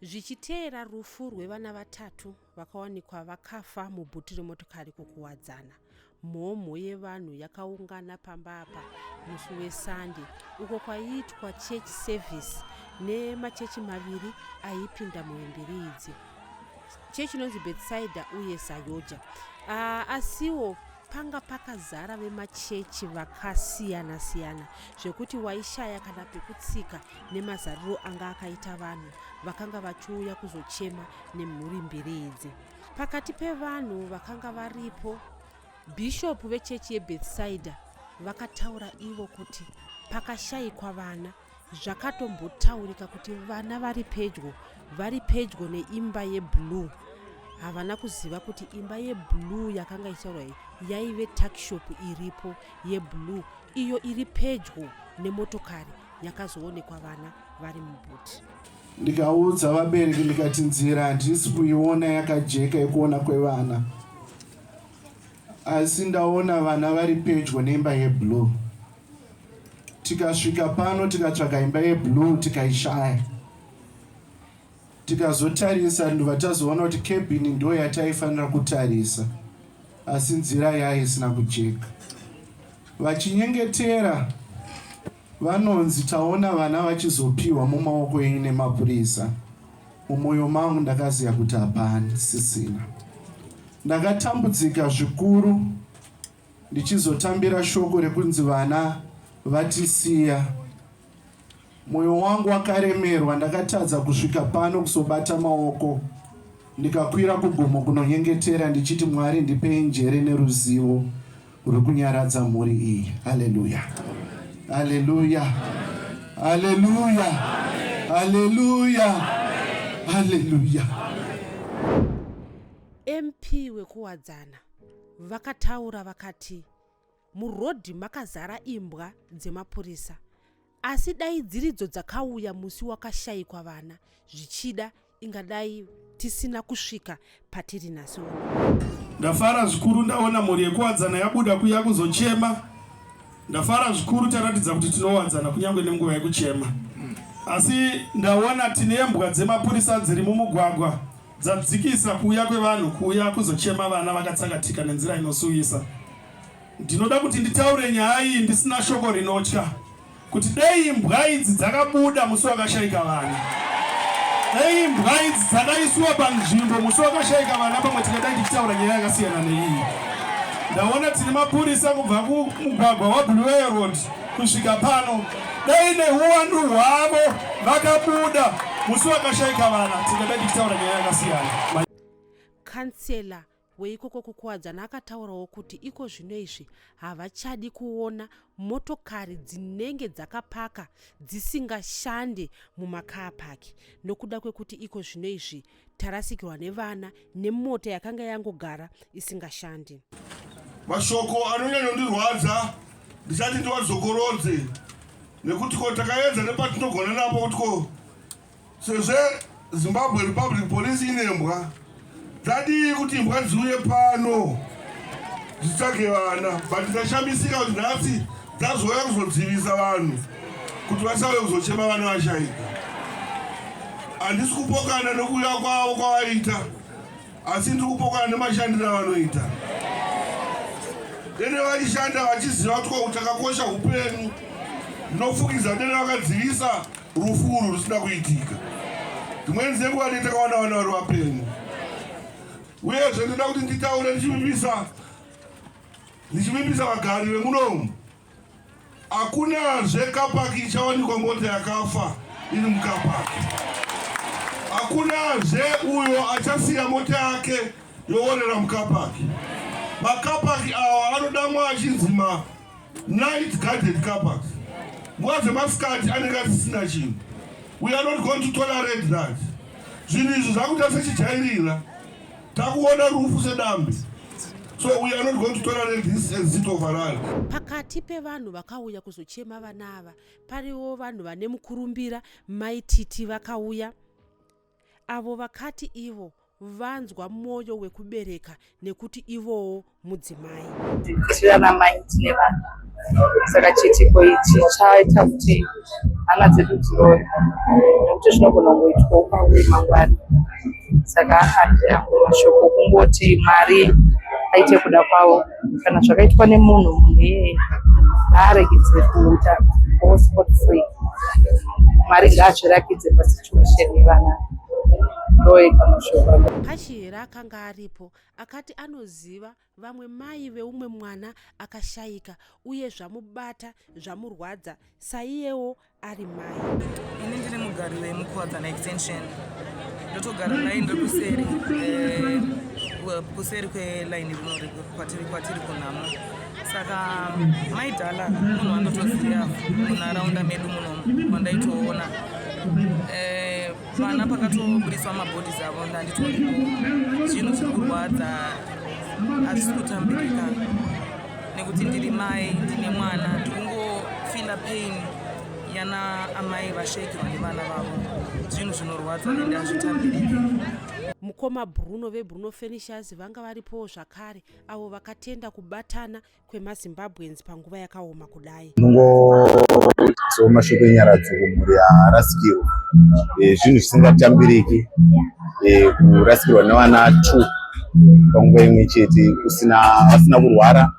zvichiteera rufu rwevana vatatu vakawanikwa vakafa mubhuti remotokari kukuwadzana mhomho yevanhu yakaungana pamba apa musi wesande uko kwaiitwa church service nemachechi maviri aipinda muhemberi idzi chechi inonzi bethsaida uye sayoja ah, asiwo panga pakazara vemachechi vakasiyana siyana zvekuti waishaya kana pekutsika nemazariro anga akaita vanhu vakanga vachiuya kuzochema nemhuri mbiri idzi pakati pevanhu vakanga varipo bhishopu vechechi yebethsaida vakataura ivo kuti pakashaikwa vana zvakatombotaurika kuti vana vari pedyo vari pedyo neimba yeblue havana kuziva kuti imba yeblue yakanga ichitaurwa iyi yaive takshop iripo yeblue iyo iri pedyo nemotokari yakazoonekwa vana vari mubuti ndikaudza vabereki ndikati nzira handisi kuiona yakajeka yekuona kwevana asi ndaona vana vari pedyo neimba yeblue tikasvika pano tikatsvaga imba yeblue tikaishaya tikazotarisa ndobva tazoona kuti cabin ndo yataifanira kutarisa asi nzira yayo isina kujeka vachinyengetera vanonzi taona vana vachizopiwa mumaoko enyu nemapurisa mumwoyo mangu ndakaziva kuti hapani sisina ndakatambudzika zvikuru ndichizotambira shoko rekunzi vana vatisiya moyo wangu wakaremerwa ndakatadza kusvika pano kusobata maoko ndikakwira kugomo kunonyengetera ndichiti mwari ndipei njere neruzivo ruri kunyaradza mhuri iyi haleluya haleluya haleluya haleluya haleluya mp wekuwadzana vakataura vakati murodhi makazara imbwa dzemapurisa asi dai dziridzo dzakauya musi wakashayikwa vana zvichida ingadai tisina kusvika patiri nhasi uno ndafara zvikuru ndaona mhuri yekuwadzana yabuda kuya kuzochema ndafara zvikuru taratidza kuti tinowadzana kunyange nenguva yekuchema asi ndaona tine mbwa dzemapurisa dziri mumugwagwa dzadzikisa kuuya kwevanhu kuuya kuzochema vana vakatsakatika nenzira inosuwisa. Ndinoda kuti nditaure nyaya iyi ndisina shoko rinotya kuti dei imbwa idzi dzakabuda musi wakashaika vana, dei imbwa idzi dzakaiswa panzvimbo musi wakashaika vana, pamwe tingadai tichitaura nyaya yakasiyana neiyi. Ndaona tine mapurisa kubva kumugwagwa waBluewater Road Kusvika pano dai nehuwandu hwavo vakabuda musi wakashaika vana tingadai tichitaura nyaya yakasiyana. Kansela weikoko kukuwadzana akataurawo kuti iko zvino izvi havachadi kuona motokari dzinenge dzakapaka dzisingashande mumakaa paki nokuda kwekuti iko zvino izvi tarasikirwa nevana nemota yakanga yangogara isingashandi mashoko anonyanondirwadza ndisati ndiwazokorodze nekuti ko takaedza nepatinogona napo kuti ko sezve zimbabwe republic police ine mbwa dzadii kuti imbwa dziuye pano dzitsvage vana but ndashamisika kuti nhasi Tazouya kuzodzivisa vanhu kuti vasave kuzochema vana vashaika. Handisi kupokana nokuuya kwavo kwavaita, asi ndiri kupokana nemashandiro avanoita. Dene vaishanda vachiziva kuti kwautakakosha upenyu, ndinofukidza dene vakadzivisa rufu urwu rusina kuitika. Dzimweni dzenguva ndine takawana vana vari vapenyu, uyezve ndinoda kuti nditaure ndichivivisa Ndichivimbisa vagari vemuno umu, hakunazve kapaki ichawanikwa mota yakafa iri mukapaki. Hakunazve uyo achasiya mota yake yoorera mukapaki. Makapaki awa anodamwa achinzi ma night guarded kapaki. Nguva dzemasikati anenge asisina chinhu. We are not going to tolerate that. Zvinhu izvi zvakuita sechijairira. Takuona rufu sedambi. So we are not going to tolerate this and sit over us. Pakati pevanhu vakauya kuzochema vana ava pariwo vanhu vane mukurumbira mai Titi vakauya avo vakati ivo vanzwa mwoyo wekubereka nekuti ivowo mudzimai. Tirana mai tine vana saka chiitiko ichi chaita kuti hana dzedu dzirore nekuti zvinogona kungoitwa upanguye mangwani saka handi angu mashoko kungoti mwari aite kuda kwavo kana zvakaitwa nemunhu munhu iyeye ngaaregedze kuita gosport free mwari ngaazvirakidze pasituation yevana ndoega mashoko pashi here akanga aripo akati anoziva vamwe mai veumwe mwana akashaika uye zvamubata zvamurwadza saiyewo ari mai ini ndiri mugari wemukuwadzana extension ndotogara naye ndiri kuseri eh, kuseri kwelaini rino kwatiri kwatiri kunhamo saka mai dhala munhu wandotoziva munharaunda medu muno wandaitoona eh, vana pakatobudiswa mabhodhi dzavo ndanditi zvinhu zviri kurwadza hazvisi kutambirika nekuti ndiri mai ndine mwana ndikungofila pain yana amai vashaikirwa nevana vavo zvinhu zvinorwadza ende hazvitambiriki mukoma bruno vebruno furnishers vanga varipowo zvakare avo vakatenda kubatana kwemazimbabweans panguva yakaoma kudai so mashoko enyaradzo kumhuri yaarasikirwa eh, zvinhu zvisingatambiriki eh, kurasikirwa nevana t panguva imwe chete usina vasina kurwara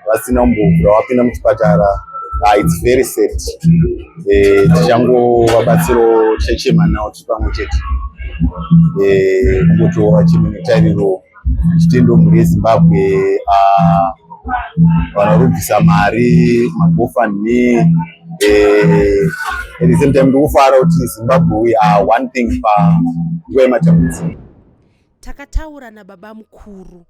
vasina umbovhura wapinda muchipatara ah, its very sad eh, tichangovabatsiro tichachema nawo tiri pamwe chete kungotowa chimwe netariro chitendo mhuri yezimbabwe ah, vanorubvisa mari magofundme eh, at the same time ndikufara kuti zimbabwe we are one thing panguva yematambudziko takataura nababa mukuru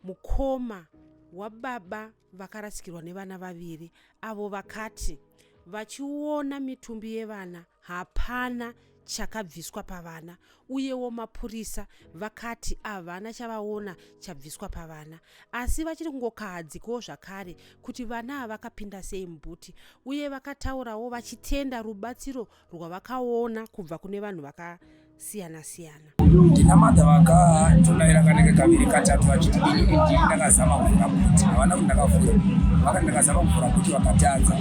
mukoma wababa vakarasikirwa nevana vaviri avo vakati vachiona mitumbi yevana Hapana chakabviswa pavana uyewo mapurisa vakati havana chavaona chabviswa pavana asi vachiri kungokahadzikawo zvakare kuti vana havakapinda sei mubhuti uye vakataurawo vachitenda rubatsiro rwavakaona kubva kune vanhu vaka siyana siyana ndinamada vakatodaira kanenge kaviri katatu vachiti ini ndakazama kuvhura kuti havana kuti ndakavhura vakati ndakazama kuvhura kuti vakatadza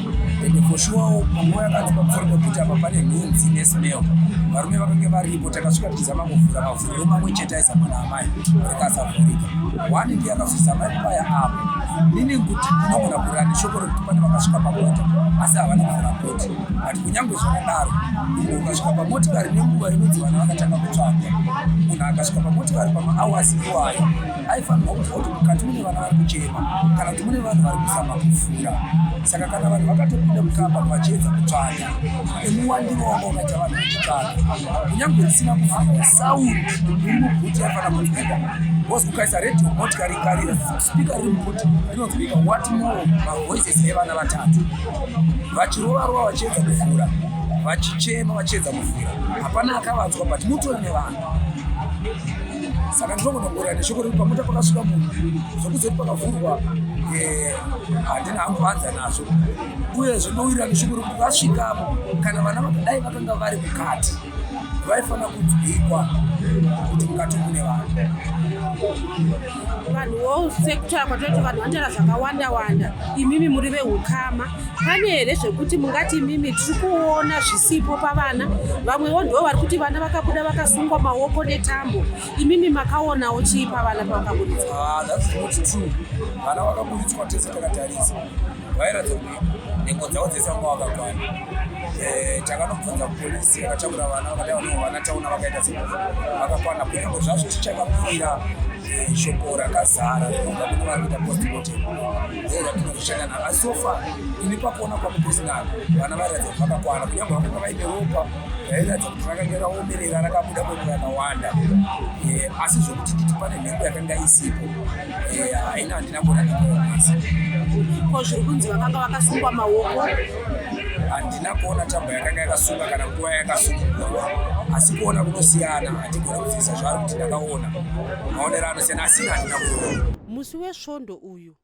ende foshuwawo panguva yakanzi pakufarika kuti apa pane nhunzi nesmel varume vakange varipo takasvika tichizama kuvhura mavhuriro mamwe chete aizama naamai rikasavhurika wani ndi akazozama epaya apo meaning kuti ndinogona kurira neshoko rekuti pane vakasvika pakota asi havana kuvhura kuti but kunyange zvakadaro munhu ukasvika pamotikari nenguva inonzi vana vakatanga kutsvaga munhu akasvika pamotikari pamaawasi iwayo aifanirwa kuziva kuti mukati mune vana vari kuchema kana kuti mune vanhu vari kuzama kufura saka kana vanhu vakatopinda mukamba vachiedza kutsvaga nemuwandiro wanga ukaita vanhu vachitsvaga kunyange risina kuvhara saundi iri muguti yafanira kunzwika bcause ukaisa radio motikari ikarira spika riri muguti rinonzwika what more mavoices evana vatatu vachirova rova vachiedza kuvhura vachichema vachiedza kuvhura hapana akavanzwa but mutori nevanhu saka ndinogonogorera neshoko rekuti pamuta pakasvika munhu zvokuzoti pakavhurwa eh, handina hangu vanza nazvo uye zvinowirirana neshoko rekuti vasvikapo kana vana vakadai vakanga vari mukati vaifanira kunzwikwa kuti mukati mune vanhu vanhuwo sekutaura kwatoiti vanhu vanotaura zvakawanda wanda imimi muri veukama pane here zvekuti mungati imimi tiri kuona zvisipo pavana vamwewo ndivo vari kuti vana vakabuda vakasungwa maoko netambo imimi makaonawo chii pavana pavakaburitswa ah, vana vakaburitswa tese takatarisa vairatidza nhengo dzavo dzese vanga vakakwana eh, takanobvunza polisi yakatakura vana vakadai vanoo vana taona vakaita se vakakwana kunyange zvazvo tichakapira eh, shoko rakazara rinobva kune vari kuita postmotem ndo ratinozoshanda navo asi sofa ini pakuona kwangu pesinal vana vairatidza kuti vakakwana kunyange vakanga vaine ropa rairatidza kuti rakanga raomerera rakabuda kwekurakawanda eh, asi zvokuti titi pane nhengo yakanga isipo haina handina kuona ndikuonesa ko zviri kunzi vakanga vakasungwa maoko handina kuona tambo yakanga yakasunga kana nguva yakasungwa asi kuona kunosiyana hatigona kuzivisa zvaari kuti ndakaona maonero anosiyana asi handina kuona musi wesvondo uyu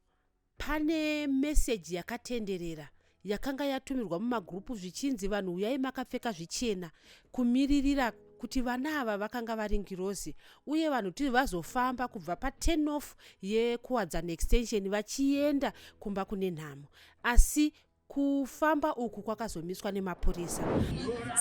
pane meseji yakatenderera yakanga yatumirwa mumagurupu zvichinzi vanhu huyai makapfeka zvichena kumiririra kuti vana ava vakanga vari ngirozi uye vanhu tiri vazofamba kubva paturn off yekuwadzana extension vachienda kumba kune nhamo asi kufamba uku kwakazomiswa nemapurisa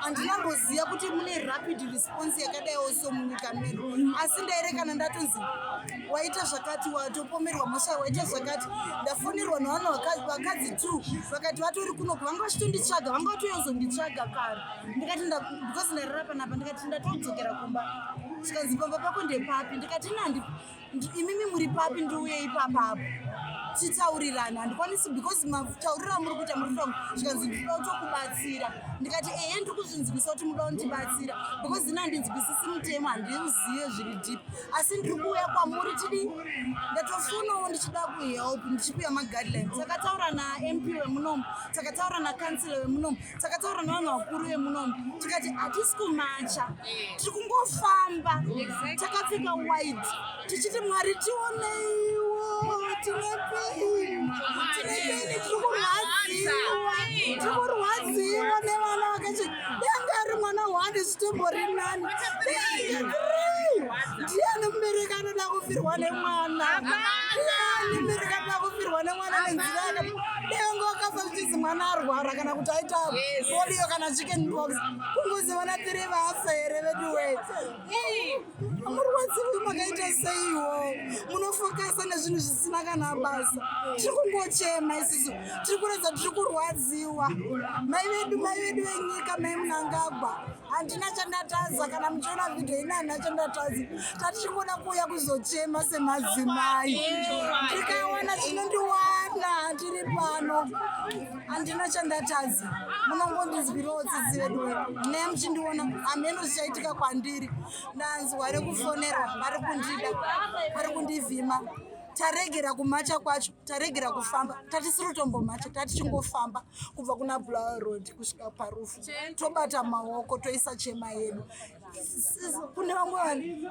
handinamboziva kuti mune rapid response yakadaiwo so munyika medu asi ndairekana ndatonzi waita zvakati watopomerwa mhosva waita zvakati ndafonirwa nevanhu vakadzi t vakati vatori kuno vanga vachitonditsvaga vanga vatoyozonditsvaga kare ndikati because ndairara panapa ndikati ndatodzokera kumba zvikanzi pamba pako ndepapi ndikati nandi imimi muri papi ndiuye ipapa apo titaurirane handikwanisi because matauriro amuri kuita muri from zvikanzi ndikuda kutokubatsira ndikati ehe ndiri kuzvinzwisa kuti muda kundibatsira because ini handinzwisisi mutemo handiuzive zviri deep asi ndiri kuuya kwamuri tidii ndatofonawo ndichida kuhelp ndichipiwa maguidelines takataura namp wemunomu takataura nacancela wemunomu takataura nevanhu vakuru vemunomu tikati hatisi kumacha tiri kungofamba takapfeka wide tichiti mwari tioneiwo tinepei tinepei tiri kurwadziwa tiri kurwadziwa nevana vakachi danga ari mwana hwani zvitombo rinani ndiani mubereki anoda kufirwa nemwana ndiani mubereki anoda kufirwa nemwana nenzira dengo akafa zvichizi mwana arwara kana kuti aita polio kana chicken box kunguzi vana tiri vafa here veduwe murwadzi uyu makaita seiwo munofokasa nezvinhu zvisina kana basa tiri kungochema isisu tiri kuratidza tiri kurwadziwa mai vedu mai vedu venyika mai munangagwa handina chandatadza kana muchiona vhidhiyo ina handina chandatadza tatichingoda kuuya kuzochema semadzimai tikawana chinondiwana tiri pano handina chandatadza munongondinzwirawo tsitsi vedu ne muchindiona hameno zvichaitika kwandiri ndanzwa rekufonera vari kundida vari kundivhima taregera kumacha kwacho taregera kufamba tatisirotombomhacha tatichingofamba kubva kuna blower road kusvika parufu tobata maoko toisa chema yedu kune vamwe vanhu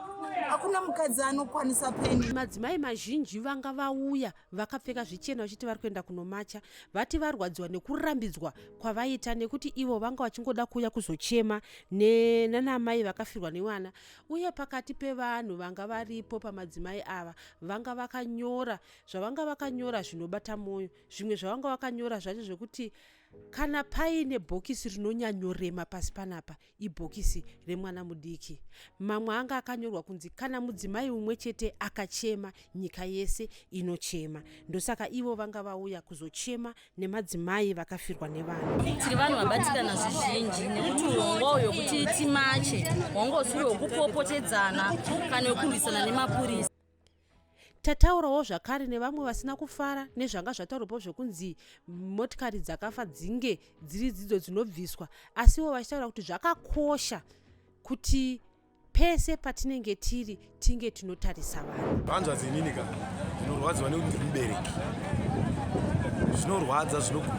hakuna mukadzi anokwanisa peni madzimai mazhinji vanga vauya vakapfeka zvichena vachiti vari kuenda kunomacha vati varwadziwa nekurambidzwa kwavaita nekuti ivo vanga vachingoda kuuya kuzochema nanamai vakafirwa nevana uye pakati pevanhu vanga varipo pamadzimai ava vanga vakanyora zvavanga vakanyora zvinobata mwoyo zvimwe zvavanga vakanyora zvacho zvekuti kana paine bhokisi rinonyanyorema pasi panapa ibhokisi remwana mudiki mamwe anga akanyorwa kunzi kana mudzimai umwe chete akachema nyika yese inochema ndosaka ivo vanga vauya kuzochema nemadzimai vakafirwa nevana tiri vanhu vabatikana zvizhinji nekuti urongwa uyo kuti timache hwanga usiri hwekupopotedzana kana wekurwisana nemapurisa tataurawo zvakare nevamwe vasina kufara nezvanga zvataurwapo zvekunzi motikari dzakafa dzinge dziri dzidzo dzinobviswa asiwo vachitaura kuti zvakakosha kuti pese patinenge tiri tinge tinotarisa vanhu vanzwa dzinini ka zvinorwadziwa nekuti ndiri mubereki zvinorwadza zvinoku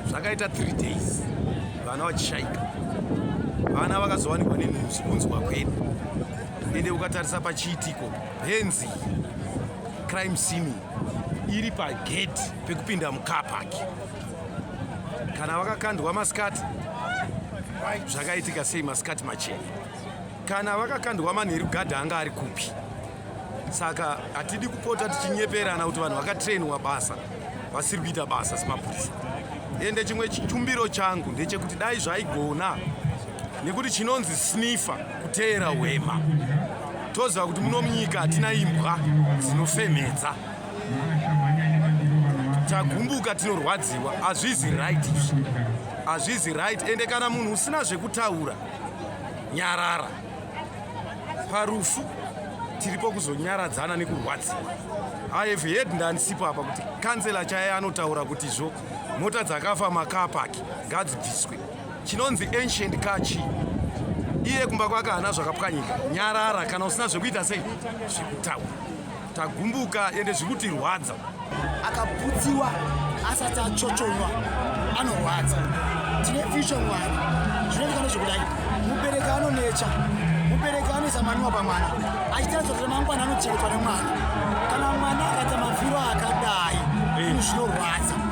zvakaita three days vana vachishaika vana vakazowanikwa nenhuzvi kunzwa kwedu ende ukatarisa pachiitiko henzi crime scene iri pagate pekupinda mucar park kana vakakandwa masikati zvakaitika sei masikati machena kana vakakandwa manheru gadha anga ari kupi saka hatidi kupota tichinyeperana kuti vanhu vakatrainwa basa vasiri kuita basa semapurisa ende chimwe chitumbiro changu ndechekuti dai zvaigona nekuti chinonzi snifa kuteera hwema toziva kuti muno munyika hatina imbwa dzinofemhedza tagumbuka tinorwadziwa hazvizi right izvi hazvizi right ende kana munhu usina zvekutaura nyarara parufu tiripo kuzonyaradzana nekurwadziwa ihave head ndanisipo apa kuti kansela chaye anotaura kuti zvo mota dzakafa makapaki ngadzibviswe chinonzi ancient car chi iye kumba kwake hana zvakapwanyika nyarara kana usina zvekuita sei zvekutaura tagumbuka ende zvikutirwadza akaputsiwa asati achochonywa anorwadza tine fisho mwana zvinoitikana zvekudai mubereki anonecha mubereki anoisa maniwa pamwana achitaridza kuti mangwana anochengetwa nemwana kana mwana akaita mafiro akadai zvinorwadza